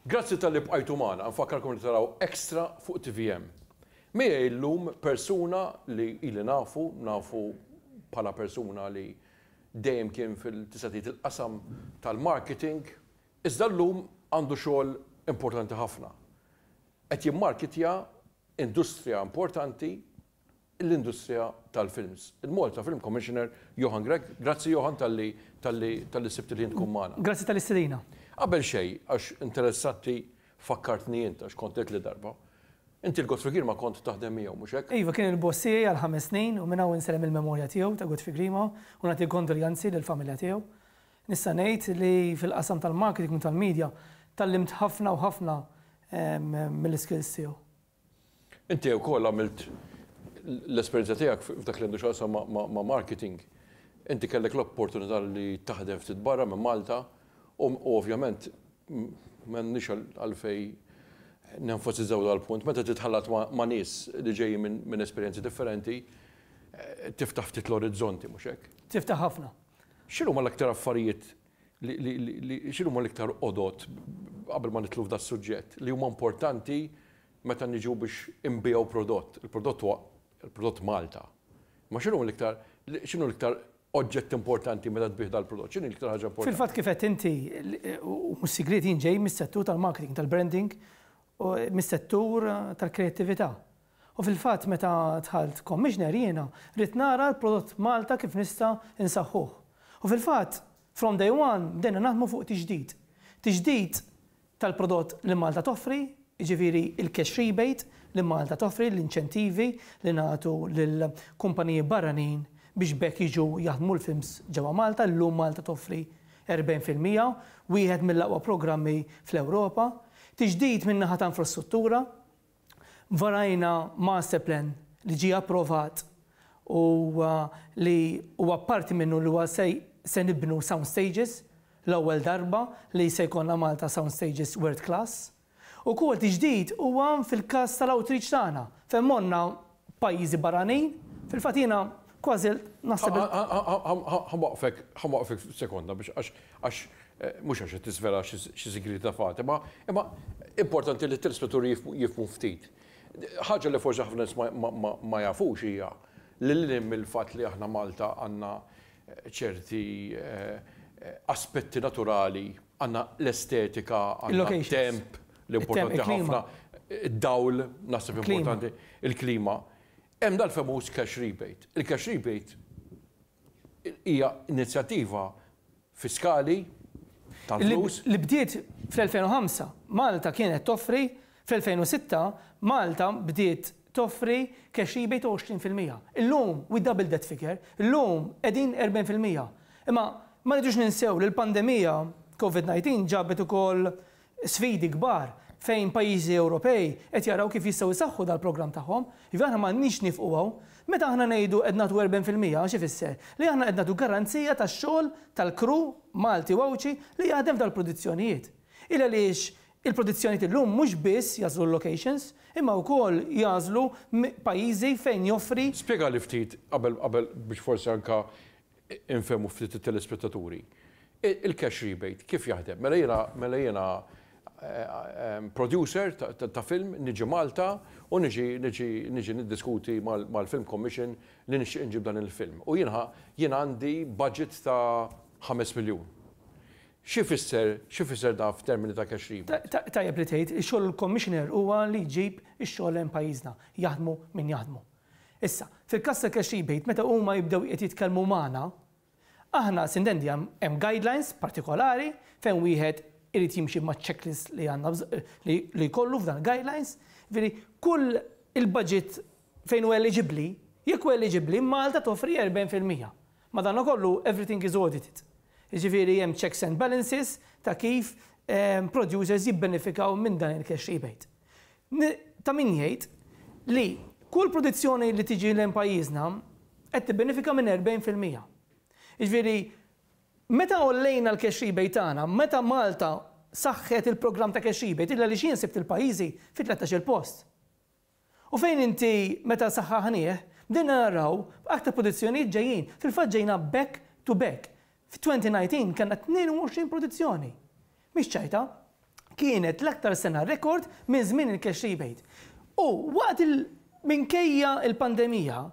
Grazzi talli bqajtu magħna, nfakkarkom li taraw Extra fuq tvm. Miegħi llum persuna li ili nafu, nafu bħala persuna li dejjem kien fil-tista' tgħid il-qasam tal-marketing, iżda llum għandu xogħol importanti ħafna. Qed jimmarkitja industrija importanti l-industrija tal-films. Il-Malta Film Commissioner Johan Grech. Grazzi Johan talli talli talli sibt il-ħin tkun magħna. Grazzi tal-istedina. Qabel xejn, għax interessatni fakkartni int għax kont għedtli darba. Inti l-Godfrey Grima kont taħdem miegħu, mhux hekk? Iva, kien il-boss tiegħi għal ħames snin u minn hawn insellem il-memorja tiegħu ta' Godfrey Grima u nagħti l-kondoljanzi lill-familja tiegħu. Nista' ngħid li fil-qasam tal-marketing u tal-media tgħallimt ħafna u ħafna mill-iskills tiegħu. Inti wkoll għamilt l-esperjenza tiegħek f'dak li għandu x'jaqsam ma' marketing. Inti kellek l-opportunità li taħdem ftit barra minn Malta u ovvjament m'għandniex għalfejn nenfasizzaw dan il-punt. Meta titħallat ma' nies li ġejjin minn esperjenzi differenti, tiftaħ ftit l-orizzonti, mhux hekk? Tiftaħ ħafna. X'inhuma l-aktar affarijiet li x'inhuma l-iktar għodod, qabel ma nidħlu f'das-suġġett, li huma importanti meta niġu biex inbigħu prodott. Il-prodott huwa il-prodott Malta. Imma x'inhuma l-iktar, x'inhu l-iktar oġġett importanti meta tbigħ dal-prodott? X'inhi l-iktar ħaġa importanti? Fil-fatt kif għedt inti, u mhux sigriet, jien ġej mis-settur tal-marketing, tal-branding, u mis-settur tal-kreattività. U fil-fatt meta dħalt Commissioner jiena ridt nara l-prodott Malta kif nista' nsaħħuh. U fil-fatt from day one bdejna naħdmu fuq tiġdid. Tiġdid tal-prodott li Malta toffri, jiġifieri l-cash rebate li Malta toffri, l-inċentivi li nagħtu lil kumpaniji barranin biex b'hekk jiġu jaħdmu l-films ġewwa Malta, llum Malta toffri 40 fil-mija, wieħed mill-aqwa programmi fl-Ewropa. Tiġdid min-naħa ta' infrastruttura. Varajna masterplan li ġie approvat u li huwa parti minnu li huwa se nibnu sound stages, l-ewwel darba li se jkollna Malta sound stages world class. U quality ġdid huwa fil-każ tal-outreach tagħna fejn morna pajjiżi barranin, fil-fatt jiena kważi naħseb li. Ħanwaqqfek, ħanwaqqfek sekonda biex għax, għax, mhux għax qed tiżvela xi sigriet ta' Fatima, imma importanti li t-telespettaturi jifhmu ftit. Ħaġa li forsi ħafna nies ma jafux hija li lil hinn mill-fatt li aħna Malta għandna ċerti aspetti naturali, għandna l-estetika, għandna temp, L-importanti ħafna, id-dawl naħseb importanti, il-klima. Hemm dal-famuż cash rebate. Il-cash rebate hija inizjattiva fiskali ta' flus. Li bdiet fl-2005. Malta kienet toffri fl-2006 Malta bdiet toffri cash rebate ta' 20 fil-mija. Illum we doubled that figure. Illum qegħdin 40 fil-mija. Imma ma rridux ninsew li l-pandemija Covid 19 ġabet ukoll sfidi kbar fejn pajjiżi Ewropej qed jaraw kif jistgħu jsaħħu dal-programm tagħhom. Jiġifieri aħna m'għandniex nifqu hawn. Meta aħna ngħidu qed nagħtu erben fil-mija x'ifisser? Li aħna qed nagħtu garanzija tax-xogħol tal-crew Malti u Għawdxi li jaħdem f'dal-produzzjonijiet. Il għaliex il-produzzjonijiet illum mhux biss jagħżlu l-locations imma wkoll jagħżlu pajjiżi fejn joffri. Spjegali ftit qabel qabel biex forsi anke infehmu ftit it-telespettaturi. Il-cash rebate kif jaħdem? Mela jiena mela jiena producer ta' film, niġi Malta u niġi niġi niġi niddiskuti mal-film commission li nixtieq inġib dan il-film. U jiena jiena għandi budget ta' ħames miljun. Xi jfisser xi jfisser dan f'termini ta' cash rebate? Tajjeb li tgħid, ix-xogħol il-commissioner huwa li jġib ix-xogħol lejn pajjiżna, jaħdmu min jaħdmu. Issa, fil-każ ta' Cash Rebate meta huma jibdew qed jitkellmu magħna, aħna sintendi hemm guidelines partikolari fejn wieħed irid jimxi maċ-checklist li għandna li jkollu f'dan il-guidelines, jiġifieri kull il-budget fejn hu eliġibbli, jekk hu eliġibbli, Malta toffri 40 fil-mija. Madankollu everything is audited. Jiġifieri hemm checks and balances ta' kif producers jibbenefikaw minn dan il-Cash Rebate. N, Ta' min jgħid li kull produzzjoni li tiġi lejn pajjiżna qed tibbenefika minn 40 fil-mija. Jiġifieri meta għollejna l-cash rebate tagħna, meta Malta saħħet il-programm ta' cash rebate, illa li x'jien sibt il-pajjiżi fi tlettax-il post. U fejn inti meta saħħaħnieh, bdejna naraw aktar produzzjonijiet ġejjin. Fil-fatt ġejna back to back. F'2019 kellna 22 produzzjoni. Mhix ċajta. Kienet l-aktar sena rekord minn żmien il-cash rebate. U waqt il minkejja l-pandemija,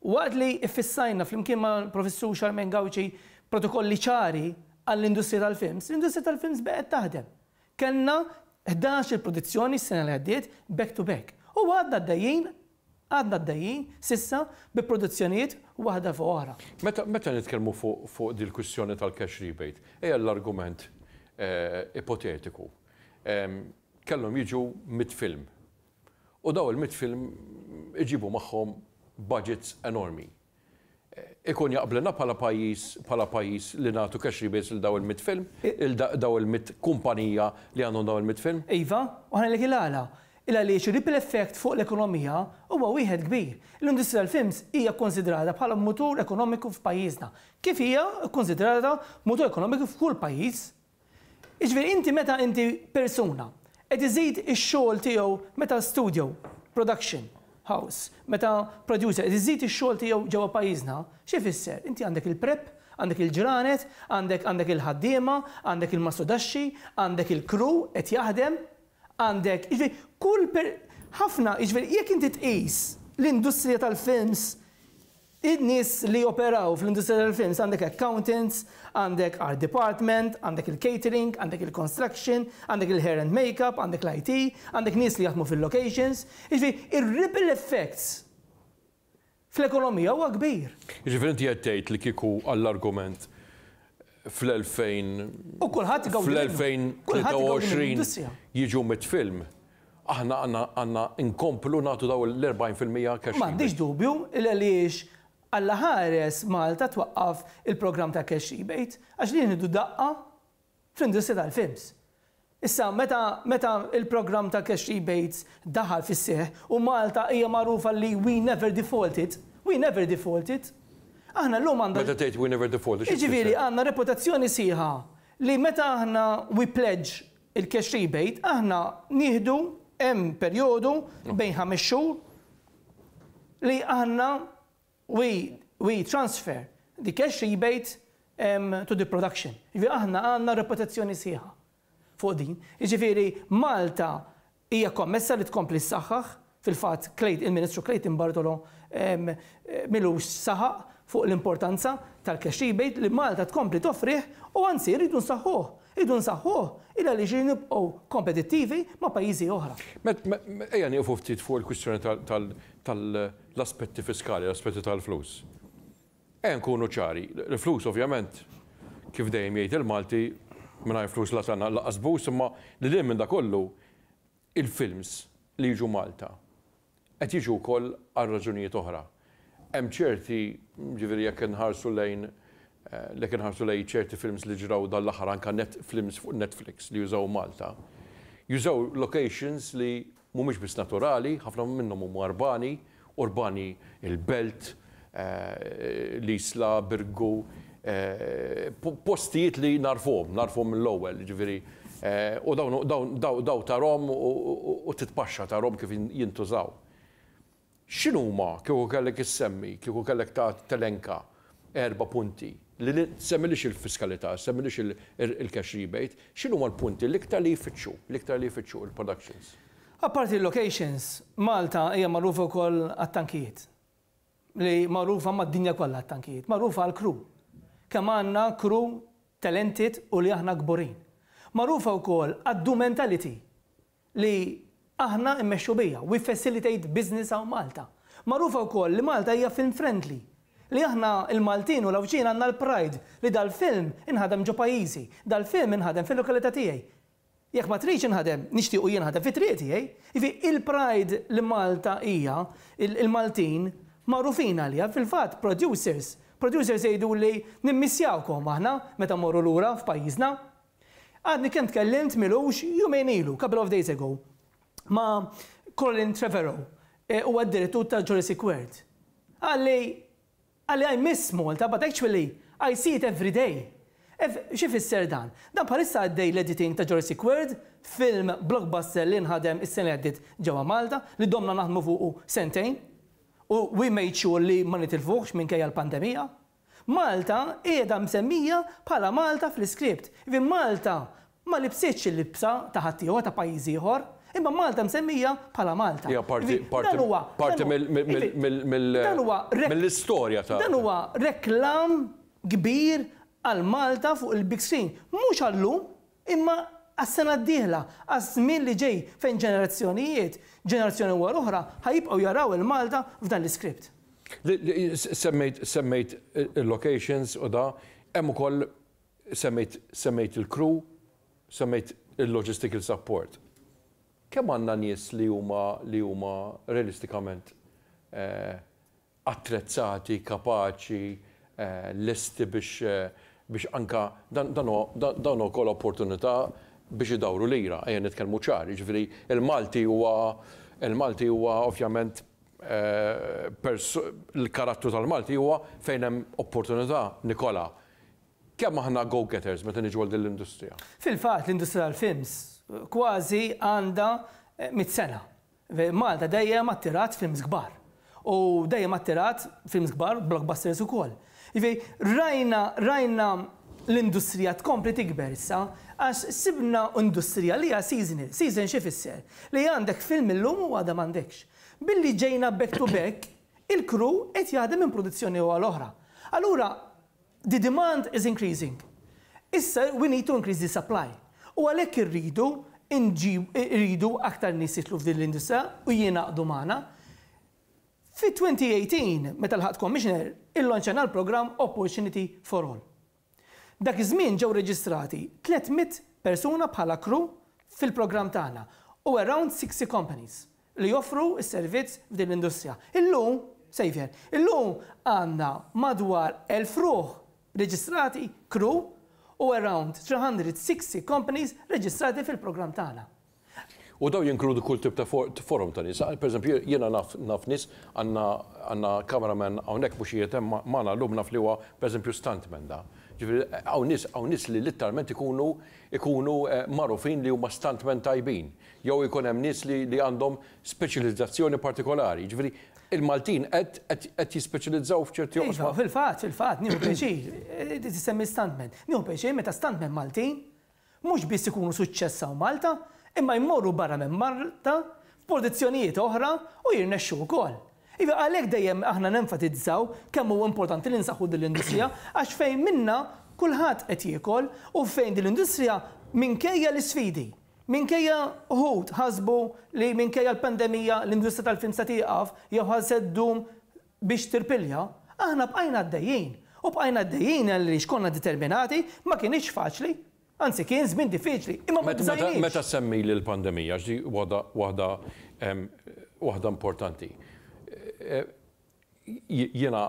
waqt li ffissajna flimkien mal-Professur Charmaine Gauci protokolli ċari għall-industrija tal-films, l-industrija tal-films baqgħet taħdem. Kellna ħdax-il produzzjoni s-sena li għaddiet back to back. U għadna għaddejjin Għadna għaddejjin, s'issa, bi produzzjonijiet waħda fuq oħra. Meta nitkellmu fuq dil-kwistjoni tal-cash rebate, ejja l-argument ipotetiku, kellhom jiġu mitt film. U dawn il-mitt film iġibu magħhom budgets enormi. ikun jaqblilna bħala pajjiż bħala pajjiż li nagħtu cash rebates lil dawn il-mitt film, lil dawn il-mitt kumpanija li għandhom dawn il-mitt film? Iva, u ħa ngħidlek il-għala. Il-għaliex ir-ripple effect fuq l-ekonomija huwa wieħed kbir. L-industrija tal-films hija kkunsidrata bħala mutur ekonomiku f'pajjiżna, kif hija kkunsidrata mutur ekonomiku f'kull pajjiż. Jiġifieri inti meta inti persuna qed iżid ix-xogħol tiegħu meta studio, production, house, meta producer qed iżid ix-xogħol tiegħu ġewwa pajjiżna, xi jfisser? Inti għandek il-prep, għandek il-ġranet, għandek għandek il-ħaddiema, għandek il-mastodaxxi, għandek il-crew qed jaħdem, għandek, jiġifieri kull per, ħafna, jiġifieri jekk inti tqis l-industrija tal-films In-nies li joperaw fl-industrija tal-films għandek accountants, għandek art department, għandek il-catering, għandek il-construction, għandek il-hair and makeup, għandek l-IT, għandek nies li jaħdmu fil-locations, jiġifieri ir-ripple effects fl-ekonomija huwa kbir. Jiġifieri inti qed tgħid li kieku għall-argument fl-2023 jiġu mit film, aħna għandna nkomplu nagħtu dawn l-40 fil-mija cash rebate. M'għandix dubju li għaliex Alla ħares Malta twaqqaf il-programm ta' cash rebate għax din idu daqqa fl-industrija tal-films. Issa, meta meta l-programm ta' cash rebates daħal fis-seħħ u Malta hija magħrufa li we never defaulted, we never defaulted, aħna llum għandna. Meta tgħid we never defaulted, xi tfisser? Jiġifieri għandna reputazzjoni sħiħa li meta aħna we pledge il-cash rebate, aħna nieħdu hemm perjodu bejn ħames xhur li aħna We, we transfer the cash rebate to the production. Jiġifieri aħna għandna reputazzjoni sħiħa fuq din. Jiġifieri Malta hija kommessa li tkompli ssaħħaħ, fil-fatt il-Ministru Clayton Bartolo m'ilux saħaq fuq l-importanza tal-cash rebate li Malta tkompli toffrih u anzi rridu nsaħħuh. Irridu nsaħħuh il għaliex irridu nibqgħu kompetittivi ma' pajjiżi oħra. Ejja nieqfu ftit fuq il-kwistjoni tal L-aspetti fiskali, l-aspetti tal-flus. Ejja nkunu ċari, l-flus ovvjament, kif dejjem jgħid il-Malti, mingħajr flus la sena, lanqas bus, imma lil hinn minn dak kollu, il-films li jiġu Malta qed jiġu wkoll għal raġunijiet oħra. Hemm ċerti, jiġifieri jekk inħarsu lejn, jekk inħarsu lejn ċerti films li ġraw dan l-aħħar anke films fuq Netflix li jużaw Malta, jużaw locations li Mhumiex biss naturali, ħafna minnhom huma urbani, urbani il-belt, l-Isla, Birgu, postijiet li nagħrfuhom, nagħrfuhom mill-ewwel, jiġifieri, u dawn dawn tarahom u titpaxxa tarahom kif jintużaw. X'inhuma, kieku kellek issemmi, kieku kellek telenka erba' punti li, semmilix il-fiskalità, semmilix il-cash rebate, x'inhuma l-punti l-iktar li jfittxu, l-iktar li jfittxu il-productions? Apparti l-locations, Malta hija magħrufa wkoll għat-tankijiet. Li magħrufa mad-dinja kollha għat-tankijiet. Magħrufa għall-crew. Kemm għandna crew talented u li aħna kburin. Magħrufa wkoll għad-do mentality. li aħna immexxu biha, We Facilitate Business hawn Malta. Magħrufa wkoll li Malta hija film friendly, li aħna l-Maltin u l-Għawdxin għandna l-pride li dal-film inħadem ġo pajjiżi, dal-film inħadem fil-lokalità tiegħi. Jekk ma tridx inħadem, nixtiequ jinħadem fit-triq tiegħi. Jiġifieri il-pride li Malta hija, il-Maltin magħrufin għaliha, fil-fatt producers, producers jgħiduli nimmissjawkom aħna meta mmorru lura f'pajjiżna. Għadni kemm tkellimt m'ilux jumejn ilu, couple of days ago, ma' Colin Trevorrow, huwa d-direttur ta' Jurassic World. Qal li, qal li I miss Malta but actually I see it every day. Xi jfisser dan? Dan bħalissa għaddej l-editing ta' Jurassic World, film blockbuster li nħadem is-sena li għaddiet ġewwa Malta, li domna naħdmu fuqu sentejn u we made sure li ma nitilfuhx minkejja l-pandemija. Malta qiegħda msemmija bħala Malta fl-iskript. Jiġifieri Malta ma libsitx il-libsa ta' ħaddieħor, ta' pajjiż ieħor, imma Malta msemmija bħala Malta. Hija parti, parti, parti mill, mill, mill, mill-istorja ta'. Dan huwa reklam kbir għal Malta fuq il-big screen. Mhux għal-lum, Imma għas-sena d-dieħla, għaż-żmien li ġej fejn ġenerazzjonijiet, ġenerazzjoni wara oħra, ħa jibqgħu jaraw il-Malta f'dan l-iskript. Semmejt il-locations u da, hemm ukoll semmejt il-crew, semmejt il-logistical support. Kemm għandna nies li huma realistikament attrezzati, kapaċi, lesti biex biex anke dan dan huwa dan huwa wkoll opportunità biex idawru lira, ejja nitkellmu ċar, jiġifieri l-Malti huwa l-Malti huwa ovvjament l-karattru tal-Malti huwa fejn hemm opportunità Nikola. Kemm aħna go getters meta niġu għal din l-industrija? Fil-fatt l-industrija tal-films kważi għandha mitt sena. Malta dejjem attirat films kbar. U dejjem attirat films kbar, blockbusters ukoll. Jiġifieri rajna, rajna l-industrija tkompli tikber issa għax sibna industrija li hija seasonal. Season x'ifisser? Li għandek film illum u għada m'għandekx. Billi ġejna back to back, il-crew qed jaħdem minn produzzjoni għal oħra. Allura The demand is increasing. Issa we need to increase the supply. U għalhekk irridu nġib, irridu aktar nies jidħlu f'din l-industrija u jingħaqdu magħna. Fit-2018, meta lħaqt Commissioner, illanċajna l-programm Opportunity for All. Dak iż-żmien ġew reġistrati 300 persuna bħala crew fil-programm tagħna u around 60 companies. li joffru s-servizz f'din l-industrija. Illum, Saviour, illum għandna madwar 1,000 ruħ reġistrati, crew, u around 360 companies reġistrati fil-programm tagħna. U dawn jinkludu kull tip ta' forom ta' nies. Per eżempju, jiena naf naf nies, għandna għandna camera man hawnhekk mhux qiegħed hemm magħna llum naf li huwa per eżempju stunt man da. Jiġifieri hawn nies hawn nies li litteralment ikunu ikunu magħrufin li huma stunt man tajbin. jew ikun hemm nies li li għandhom speċjalizzazzjoni partikolari. Jiġifieri il-Maltin qed qed qed jispeċjalizzaw f'ċerti Iva, oqsma. fil-fatt, fil-fatt, nieħu pjaċir, eh, inti tissemmi stuntmen. Nieħu pjaċir meta stuntmen Maltin mhux biss ikunu suċċess hawn Malta, imma jmorru barra minn Malta f'pożizzjonijiet oħra u jirnexxu wkoll. Iva għalhekk dejjem aħna nenfatizzaw kemm huwa importanti li nsaħħu din l-industrija għax fejn minnha kulħadd qed jiekol u fejn din l-industrija minkejja l-isfidi. Minkejja wħud ħasbu li minkejja l-pandemija l-industrija tal-film se tieqaf jew ħa se ddum biex tirpilja, aħna bqajna għaddejjin. U bqajna għaddejjin għaliex konna determinati, ma kinitx faċli, anzi kien żmien diffiċli, imma ma bżajniex. Meta ssemmili l-pandemija, għax din waħda waħda waħda importanti, Jiena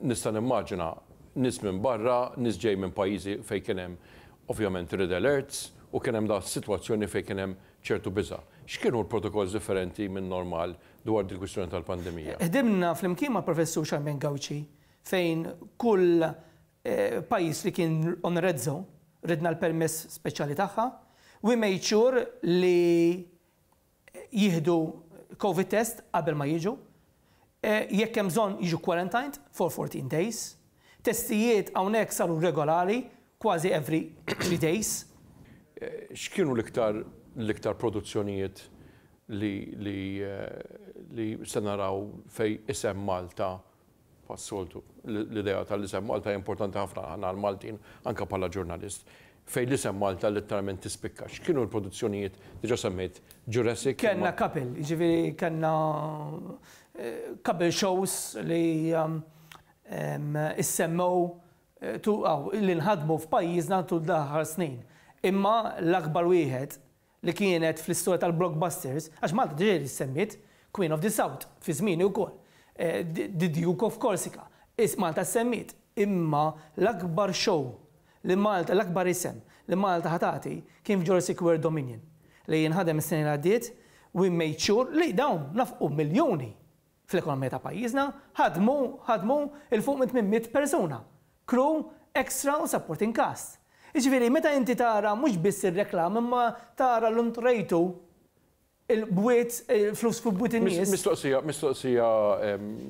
nista' nimmaġina nies minn barra, nies ġej minn pajjiżi fejn kien hemm ovvjament red alerts u kien hemm dak is-sitwazzjoni fejn kien hemm ċertu biża'. X'kienu l-protokolls differenti min-normal dwar dil-kwistjoni tal-pandemija? Ħdimna flimkien mal-Professur Charmaine Gauci fejn kull pajjiż li kien on a red zone ridna l-permess speċjali tagħha. We made sure li jieħdu Covid test qabel ma jiġu, jekk hemm bżonn jiġu quarantined for 14 days. Testijiet hawnhekk saru regolari kważi every three days. X'kienu l-iktar l-iktar produzzjonijiet li li li se naraw fejn isem Malta Bħas-soltu, l-idea tal-isem Malta hija importanti ħafna għal aħna l-Maltin, anke bħala ġurnalist, fejn l-isem Malta litteralment tispikka. X'kienu l-produzzjonijiet, diġà semmejt Jurassic, imma. Kellna couple, jiġifieri kellna couple shows li issemmew li nħadmu f'pajjiżna tul dawn l-aħħar snin. Imma l-akbar wieħed li kienet fl-istorja tal-blockbusters, għax Malta diġà ġiet issemmiet, Queen of the South, fi żmieni wkoll, The Duke of Corsica, is Malta ssemmiet, imma l-akbar show li Malta, l-akbar isem li Malta ħa tagħti kien f'Jurassic World Dominion, li inħadem is-sena li għaddiet, we made sure li dawn nafqu miljuni fl-ekonomija ta' pajjiżna, ħadmu, ħadmu, 'il fuq minn tmien mitt persuna, crew, extra u supporting cast. Jiġifieri meta inti tara mhux biss ir-reklam imma tara llum qrejtu il-bwiet, il-flus fuq bwiet in-nies. Mistoqsija, mistoqsija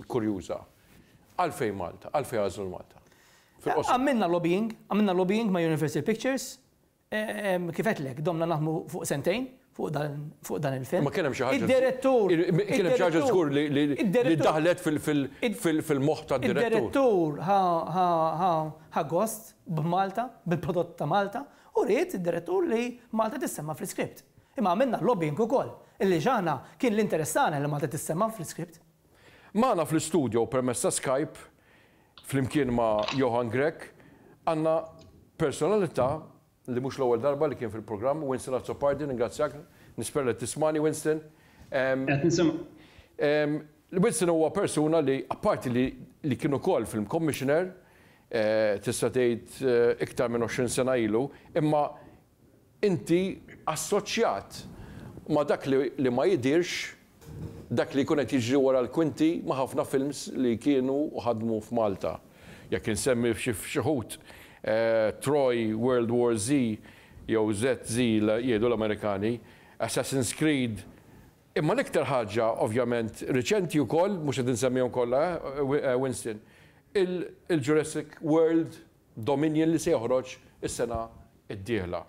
kurjuża. Għalfejn Malta? Għalfejn għażlu l-Malta? Fil-qosor. Għamilna lobbying, għamilna lobbying ma' Universal Pictures, Kif għedtlek, domna naħdmu fuq sentejn fuq dan il-film. Imma kien hemm xi ħaġa. Id-direttur. Kien hemm xi ħaġa żgur li daħlet fil-moħħ tad-direttur. Id-direttur ħa gost b'Malta, bil-prodott ta' Malta, u ried id-direttur li Malta tissemma' fl-iskript. Imma għamilna lobbying ukoll, illi x'aħna kien l-interess tagħna li Malta tissemma' fl-iskript. Magħna fl-istudjo permezz ta' Skype Flimkien ma' Johann Grech għandna personalità li mhux l-ewwel darba li kien fil-programm, Winston Azzopardi, ningrazzjak, nispera li qed tismagħni Winston. Qed nisimgħek. Winston huwa persuna li apparti li li kien ukoll Film Commissioner, tista' tgħid iktar minn għoxrin sena ilu, imma inti assoċjat ma' dak li ma jidhirx, dak li jkun qed jiġri wara l-kwinti ma' ħafna films li kienu u ħadmu f'Malta. Jekk insemmi xi wħud, Troy, World War Z jew ZZ jgħidu l-Amerikani, Assassin's Creed, imma l-iktar ħaġa ovvjament riċenti wkoll, mhux qed insemmihom kollha, Winston, il-Jurassic World. Dominion li se joħroġ is-sena d-dieħla.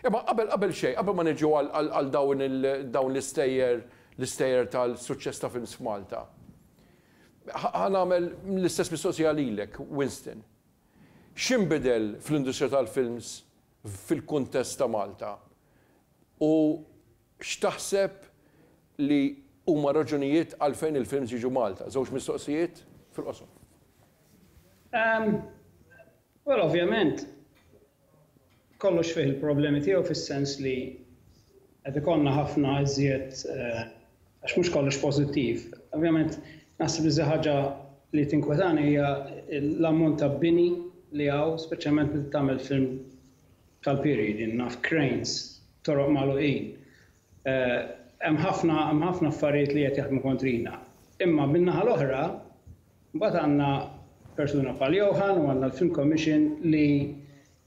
Imma qabel qabel xejn, qabel ma niġu għal dawn dawn l-istejjer l-istejjer tal-suċċess ta' films f'Malta, ħa nagħmel l-istess mistoqsija lilek, Winston. X'inbidel fl-industrija tal-films fil-kuntest ta' Malta u X'taħseb li huma r-raġunijiet għalfejn il-films jiġu Malta? Żewġ mistoqsijiet fil-qosor. Well ovvjament kollox fih il-problemi tiegħu fis-sens li qed ikollna ħafna iżjed għax mhux kollox pożittiv. Ovvjament naħseb li iżjed ħaġa li tinkwetani hija l-ammont ta' bini li hawn speċjalment meta tagħmel film tal-pieri, jien naf cranes, toroq magħluqin. Hemm ħafna hemm ħafna affarijiet li qed jaħdmu kontrina. Imma min-naħa l-oħra mbagħad għandna persuna bħal Johan u għandna l-Film Commission li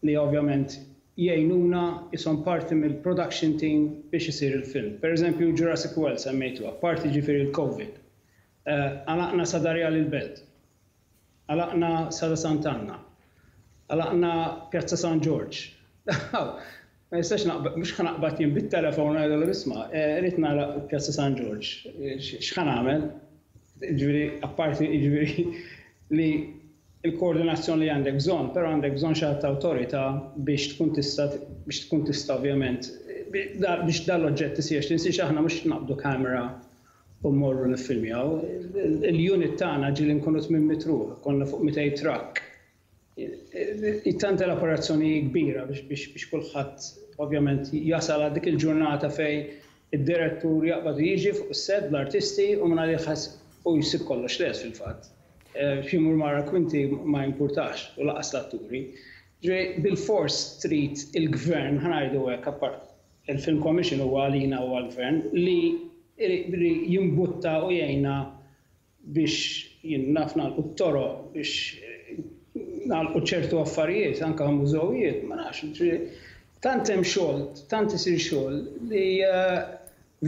li ovvjament jgħinuna ishom parti mill-production team biex isir il-film. Pereżempju Jurassic World semmejtuh, apparti ġifieri l-COVID, għalaqna Sadarja l-Belt. Għalaqna Sala Sant'Anna. Għalaqna Pjazza San Ġorġ. Aw, ma nistax naqbad, mhux ħa naqbad jien bit-telefon u ngħidilhom isma', rrid nagħlaq Pjazza San Ġorġ. X'ħa nagħmel? Jiġifieri, apparti jiġifieri li l-koordinazzjoni li għandek bżonn, però għandek bżonn xi ħadd ta' awtorità biex tkun tista' biex tkun tista' ovvjament biex dan l-oġġett isir. Tinsiex aħna mhux naqbdu kamera u mmorru niffilmjaw. Il-unit tagħna ġieli nkunu tmien mitt ruħ, konna fuq mitej trakk. Tant l-operazzjoni hi kbira biex kulħadd ovvjament jasal għal dik il-ġurnata fejn id-direttur jaqbad u jiġi fuq is-sett bl-artisti u mingħajr ħass u jsib kollox lest fil-fatt. Xi jmur mara kwinti ma jimpurtax u lanqas l-atturi. Ġifieri bilfors trid il-gvern, ħa ngħidu hekk, Il-Film Commission huwa għalina u għall-Gvern li jimbutta u jgħinna biex naf nagħlqu t-toroq, biex nagħlqu ċertu affarijiet, anke mużewijiet, ma nafx, ġifieri tant hemm xogħol, tant isir xogħol li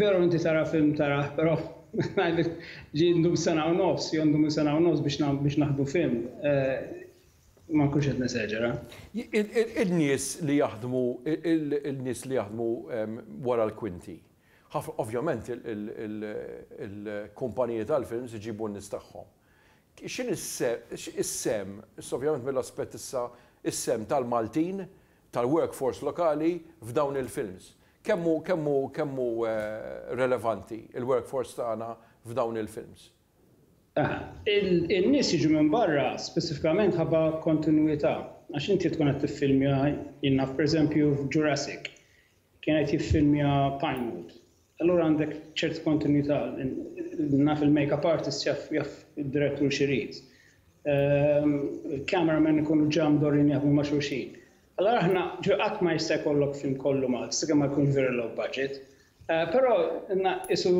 veru inti tara film tarah, però ngħidlek ġie ndum sena u nofs, jew ndum il-sena u nofs biex naħdu film. Ma nkunx qed neseġera. In-nies li jaħdmu, in-nies li jaħdmu wara l-kwinti. Ovvjament il-kumpaniji tal-films iġibu n-nies tagħhom. X'inhi s-sehem, issa ovvjament mill-aspett issa, is-sehem tal-Maltin, tal-workforce lokali f'dawn il-films? Kemm hu relevanti l-workforce tagħna f'dawn il-films? In-nies jiġu minn barra speċifikament ħabba kontinwità. Għax inti tkun qed tiffilmja, jien naf pereżempju f'Jurassic, kien qed jiffilmja Pinewood. Allura għandek ċerta kontinwità, naf il-makeup artist jaf jaf id-direttur x'irid. Il-camera man ikunu ġa mdorrijin jaħdmu ma' xulxin. Allura aħna, ġifieri qatt ma jista' jkollok film kollu Malti sakemm ma jkunx very low budget. Però, qisu,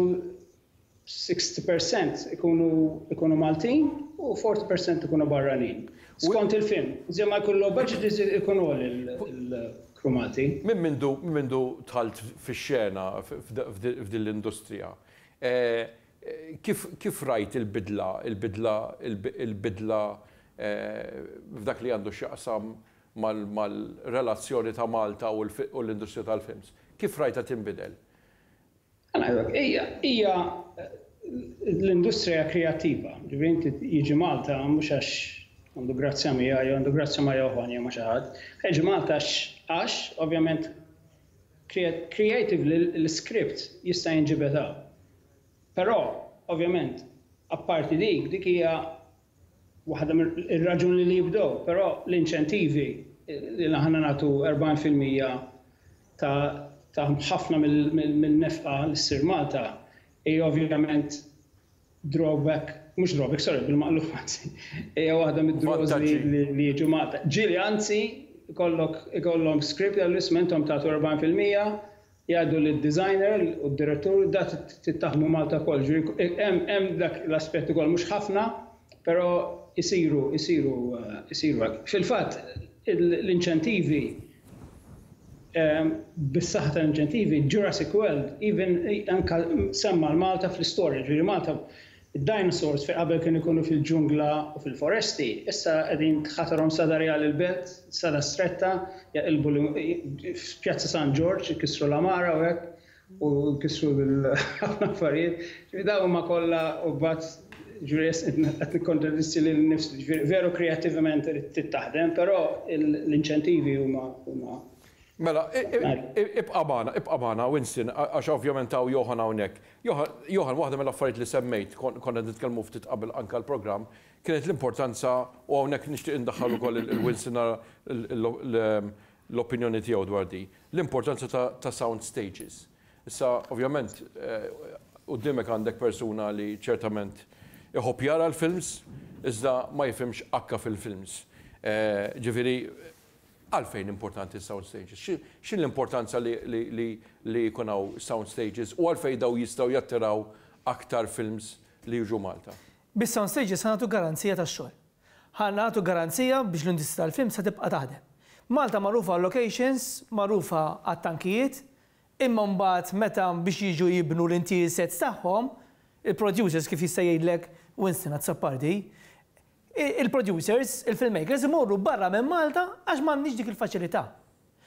60% ikunu ikunu Maltin u 40% ikunu barranin. Skont il-film, iżjed ma jkun low budget iżjed ikun għoli l-crew Malti. Minn mindu minn mindu dħalt fix-xena f'din l-industrija, kif kif rajt il-bidla il-bidla il-bidla f'dak li għandu x'jaqsam mal-relazzjoni ta' Malta u l-industrija tal-films? Kif rajtha tinbidel? Ija, ija l-industrija kreattiva. Ġifieri inti jiġi Malta mhux għax għandu grazzja miegħi jew għandu grazzja ma' Johann jew ma' xi ħadd. Jiġi Malta għax għax ovvjament creatively l-iskript jista' jinġibed hawn. Però ovvjament apparti dik, dik hija waħda mir-raġuni li jibdew, però l-inċentivi li aħna nagħtu 40 fil-mija ta' ħafna mill-nefqa li ssir Malta hija ovvjament drawback, mhux drawback, sorry, bil-maqlub anzi, hija waħda mid-draws li jiġu Malta. Ġieli anzi ikollok ikollhom script li għallu isma' intom tagħtu 40 fil-mija Jgħidu li d-designer u d-direttur da trid taħdmu Malta wkoll, jiġifieri hemm hemm dak l-aspett ukoll mhux ħafna però jsiru jsiru jsiru hekk. Fil-fatt l-inċentivi bis-saħħa tal-inċentivi Jurassic World even anke semma' 'l Malta fl-istorja, jiġifieri Malta Id-dinosaurs fejn qabel kienu jkunu fil-ġungla u fil-foresti, issa qegħdin tħatarhom strada rjali 'l belt, strada stretta, jaqilbu f'Pjazza San Ġorġ, ikissru l-għamara u hekk, u jkissru ħafna affarijiet. Ġifieri dawn huma kollha u mbagħad ġifieri qed nikkontradixxi lili nnifsi. Ġifieri veru kreattivament trid taħdem, però l-inċentivi huma huma Mela, ibqa' magħna, ibqa' magħna, Winston, għax ovvjament hawn Johann hawnhekk. Johann, waħda mill-affarijiet li semmejt, konna qed nitkellmu ftit qabel anke għall-programm, kienet l-importanza, u hawnhekk nixtieq indaħħal ukoll lil Wilson nara l-opinjoni tiegħu dwar din, l-importanza ta' sound stages. Issa, ovvjament, quddiemek għandek persuna li ċertament iħobb jara l-films, iżda ma jifhimx akka fil-films. Ġifieri, Għalfejn importanti s-sound stages? X'inhi l-importanza li jkun hawn sound stages u għalfejn dawn jistgħu jattiraw aktar films li jiġu Malta? Bis-sound stages ħa nagħtu garanzija ta' xogħol. Ħa nagħtu garanzija biex l-industrija tal-films ħa tibqa' taħdem. Malta magħrufa għal-locations, magħrufa għat-tankijiet, imma mbagħad meta biex jiġu jibnu l-intier sets tagħhom, il-producers kif jista' jgħidlek Winston Azzopardi, il-producers, il-filmmakers imorru barra minn Malta għax m'għandniex dik il-faċilità.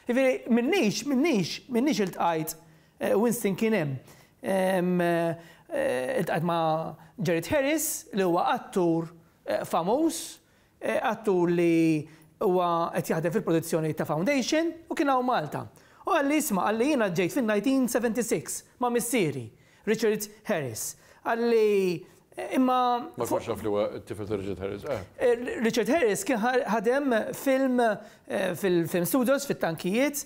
Jiġifieri minnix, minnix, minnix iltqajt, Winston kien hemm, iltqajt ma' Jared Harris li huwa attur famuż, attur li huwa qed jaħdem fil-produzzjoni ta' Foundation u kien hawn Malta. U qalli isma', qalli jiena ġejt fin-1976 ma' missieri Richard Harris, qal li imma. Ma kontx naf li huwa t-tifel ta' Richard Harris, eh. Richard Harris kien ħadem film fil-film studios fit-tankijiet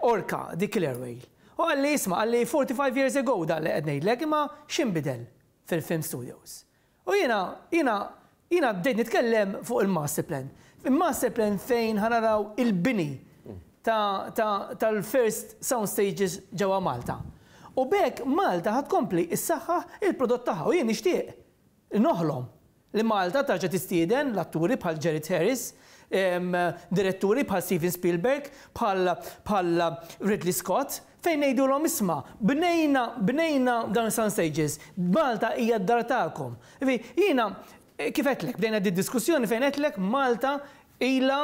Orca, dik Killer Whale. U qal li isma' qal li 45 years ago dan li qed ngħidlek imma x'inbidel fil-film studios? U jiena, jiena, jiena bdejt nitkellem fuq il-master plan. Il-master plan fejn ħa naraw il-bini ta', ta', tal-first sound stages ġewwa Malta. U b'hekk Malta ħa tkompli ssaħħaħ il-prodott tagħha u jien nixtieq, noħlom, li Malta terġa' tistieden l-atturi bħal Jared Harris, diretturi bħal Steven Spielberg, bħal, bħal Ridley Scott, Fejn ngħidulhom isma', bnejna, bnejna dawn is-sound stages, Malta hija d-dar tagħkom. Ġifieri, jiena kif għedtlek, bdejna did-diskussjoni fejn għedtlek Malta ilha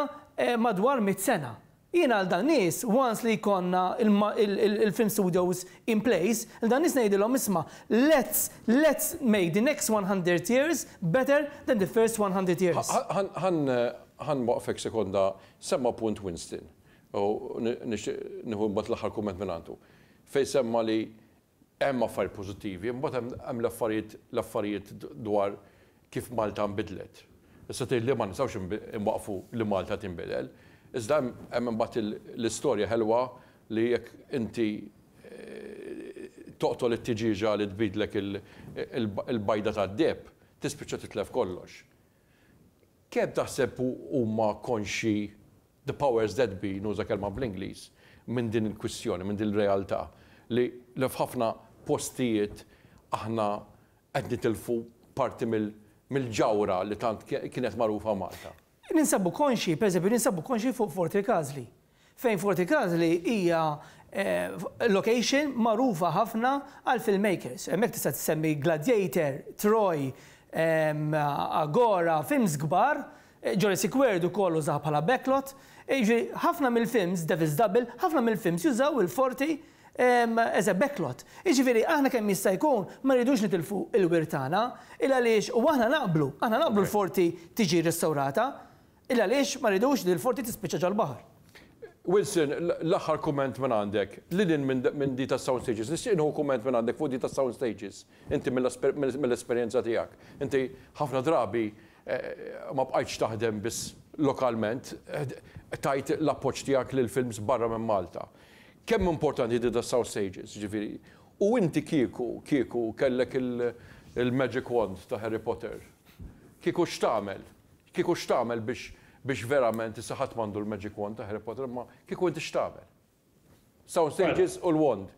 madwar mitt sena. Jiena għal dawn nies, once li jkollna l-film studios in place, lil dawn nies ngħidilhom isma', let's, let's make the next one hundred years better than the first one hundred years. Ħa, ħa, ħa nwaqqfek sekonda, semma' punt Winston. U nixtieq nieħu mbagħad l-aħħar kumment mingħandu. Fejn semma li hemm affarijiet pożittivi, imbagħad hemm hemm l-affarijiet l-affarijiet dwar kif Malta nbidlet. Issa tgħid li ma nistgħux inwaqqfu li Malta tinbidel. Iżda hemm hemm imbagħad il l-istorja ħelwa li jekk inti toqtol it-tiġieġa li tbidlek il il-bajda tad-deheb, tispiċċa titlef kollox. Kemm taħseb huma konxji The powers that be, nuża kelma bl-Ingliż, minn din il-kwistjoni, minn din il-realtà li f'ħafna postijiet aħna qed nitilfu parti mill-ġawhra li tant kienet magħrufa Malta. Ninsabu konxji, pereżempju, ninsabu konxji fuq Fort il-Każli, fejn Fort il-Każli hija location magħrufa ħafna għall-filmmakers. Hemmhekk tista' tsemmi Gladiator, Troy, Agora, films kbar Jurassic World ukoll użaha bħala backlot, jiġifieri ħafna mill-films, Devil's Double, ħafna mill-films jużaw il-Forti as a backlot. Jiġifieri aħna kemm jista' jkun ma rridux nitilfu l-wirt tagħna, il-għaliex u aħna naqblu, aħna naqblu l-Forti tiġi rrestawrata, il-għaliex ma rridux li l-Forti tispiċċa ġol-baħar. Wilson, l-aħħar kumment minn għandek. Lil hinn minn di tas-sound stages, nixtieq nieħu kumment minn għandek fuq di tas-sound stages, inti mill-esperjenza tiegħek. Inti ħafna drabi ma bqajtx taħdem biss lokalment, tajt l-appoġġ tiegħek lil films barra minn Malta. Kemm importanti di tas-sound stages, jiġifieri, u inti kieku, kieku kellek il-magic wand ta' Harry Potter, kieku x'tagħmel? Kieku x'tagħmel biex biex verament issa ħadd m'għandu l-magic wand ta' Harry Potter imma kieku inti x'tagħmel? Sound stages u l-wand.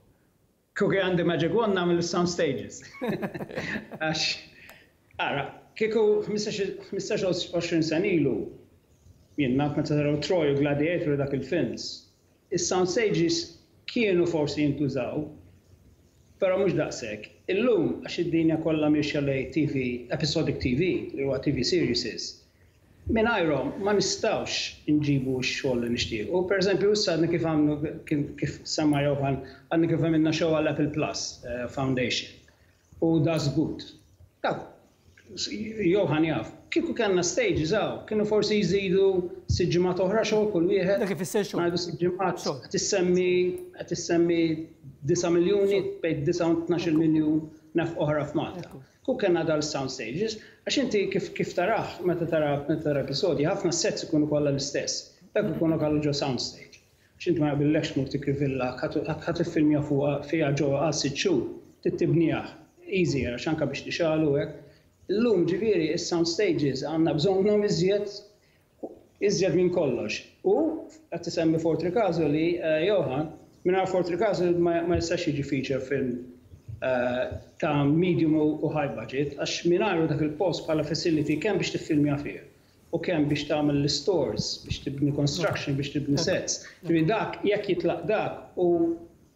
Kieku kien għandi magic wand nagħmel is-sound stages. Għax ara, kieku ħmistax-il għoxrin sena ilu, jien naf meta taraw Troy u Gladiator u dak il-films, Is-sound stages kienu forsi jintużaw, però mhux daqshekk. Illum, għax id-dinja kollha miexja lejn TV, episodic TV, li huwa TV series, mingħajrhom ma nistgħux inġibu x-xogħol li nixtiequ. Per eżempju, issa għadna kif għamlu, kif semma Johan, għadna kif għamilna show għall-Apple Plus Foundation. U da żgut. Taf, Johann jaf, kieku kellna stages hawn, kienu forsi jżidu sitt ġimgħat oħra xogħol kull wieħed. Dak ifisser xogħol. Ngħidu sitt ġimgħat. Xogħol. Qed issemmi, qed issemmi disa' miljuni, bejn disa' u tnax-il miljun nefqa oħra f'Malta. Ekku. Kieku kellna dal-sound stages, għax inti kif, kif tarah, meta tara, meta tara episodji, ħafna s-sets ikunu kollha l-istess. Dawk ikunu kallu ġo sound stage. X'int ma jaqbillekx tmur tikri villa ħa tiffilmja fuqha fiha ġewwa għal sitt xhur, trid tibniha, easier għax anke biex tixgħel u hekk. Illum ġifieri is-sound stages għandna bżonnhom iżjed iżjed minn kollox. U qed isemmi Fort Rikazu li Johan, mingħajr Fort Rikazu ma jistax jiġi feature film ta' medium u high budget għax mingħajru dak il-post bħala facility kemm biex tiffilmja fih u kemm biex tagħmel l-istores, biex tibni construction, biex tibni sets. Ġifieri dak, jekk jitlaq dak u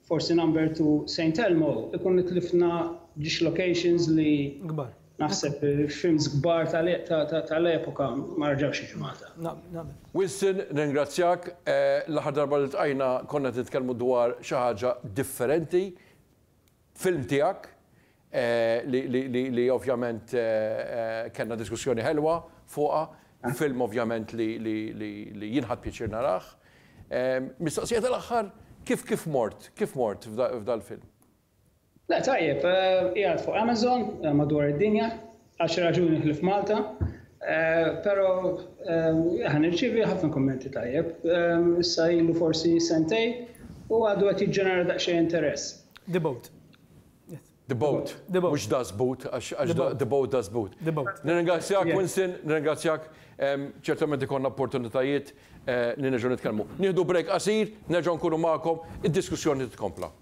forsi number to Saint Elmo, ikun itlifna ġiex locations li naħseb films kbar tal-epoka ma reġgħux jiġu Malta. Winston, nirringrazzjak. L-aħħar darba li ltqajna konna qed nitkellmu dwar xi ħaġa differenti. Film tiegħek li ovvjament kellna diskussjoni ħelwa fuqha, film ovvjament li jien ħadt pjaċir narah. Mistoqsija tal-aħħar, kif kif mort, kif mort f'dal-film? Le tajjeb, qiegħed fuq Amazon madwar id-dinja. Għal xi raġuni ħlief Malta, però ħa nirċievi ħafna kummenti tajjeb. Issa ilu forsi sentejn u għadu qed jiġġenera daqsxejn interess. The Boat. The Boat. Mhux Das Boot, għax The Boat Das Boot. Nirringrazzjak Winston, nirringrazzjak. Ċertament ikollna opportunitajiet li nerġgħu nitkellmu. Nieħdu break qasir, nerġgħu nkunu magħkom, id-diskussjoni titkompla.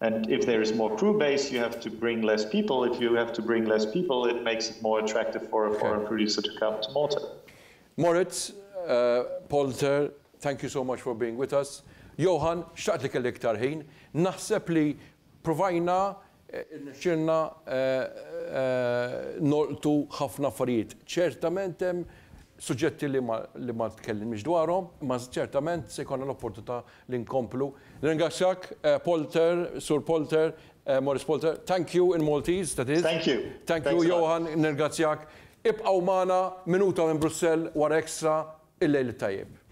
And if there is more crew base you have to bring less people, if you have to bring less people it makes it more attractive for a foreign producer to come to Malta. Moritz, Polter, thank you so much for being with us. Johan, xtaqt li kelli iktar ħin. Naħseb li provajna, irnexxielna nolqtu ħafna affarijiet. Ċertament hemm suġġetti li ma tkellimniex dwarhom, imma ċertament se jkollna l-opportunità li nkomplu. Nirringrazzjak Polter, Sur Polter, Maurice Polter, thank you in Maltese, that is. Thank you. Thank you Johan, nirringrazzjak. Ibqgħu magħna, minuta minn Brussell wara Extra, il-lejl it-tajjeb.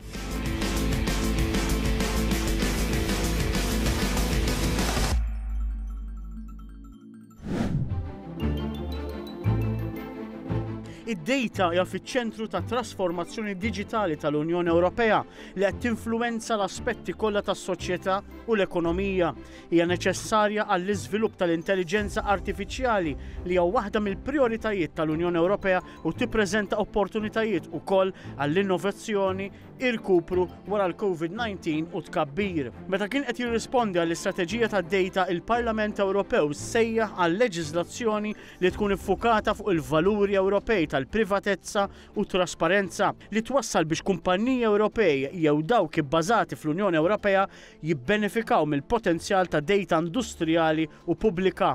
Id-dejta hija fiċ-ċentru ta' trasformazzjoni diġitali tal-Unjoni Ewropea li qed tinfluwenza l-aspetti kollha tas-soċjetà u l-ekonomija. Hija neċessarja għall-iżvilupp tal-intelliġenza artifiċjali li hija waħda mill-prijoritajiet tal-Unjoni Ewropea u tippreżenta opportunitajiet ukoll għall-innovazzjoni irkupru wara l-COVID-19 u tkabbir. Meta kien qed jirrispondi għall-istrateġija tad-dejta, il-Parlament Ewropew sejjaħ għal leġiżlazzjoni li tkun iffukata fuq il-valuri Ewropej tal-privatezza u t-trasparenza, li twassal biex kumpanniji Ewropej jew dawk ibbażati fl-Unjoni Ewropea jibbenefikaw mill-potenzjal ta' dejta industrijali u pubblika.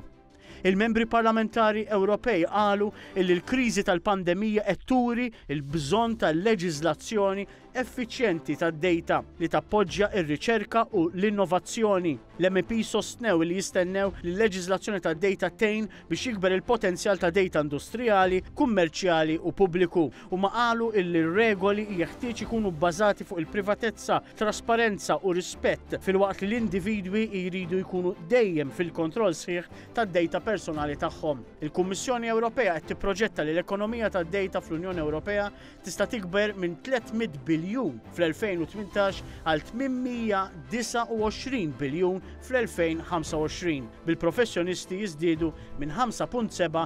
Il-Membri Parlamentari Ewropej qalu illi l-kriżi tal-pandemija qed turi l-bżonn ta' leġiżlazzjoni effiċjenti tad-dejta li tappoġġja r-riċerka u l-innovazzjoni. L-MEPs sostnew illi jistennew li l-leġiżlazzjoni tad-dejta tgħin biex jikber il-potenzjal ta' dejta industrijali, kummerċjali u pubbliku. Huma qalu illi r-regoli jeħtieġ ikunu bbażati fuq il-privatezza, trasparenza u rispett, filwaqt li l-individwi jridu jkunu dejjem fil-kontroll sħiħ tad-dejta personali tagħhom. Il-Kummissjoni Ewropea qed tipproġetta li l-ekonomija tad-dejta fl-Unjoni Ewropea tista' tikber minn 300 biljun fl-2018 għal 829 biljun fl-2025, bil-professjonisti jiżdiedu minn 5.7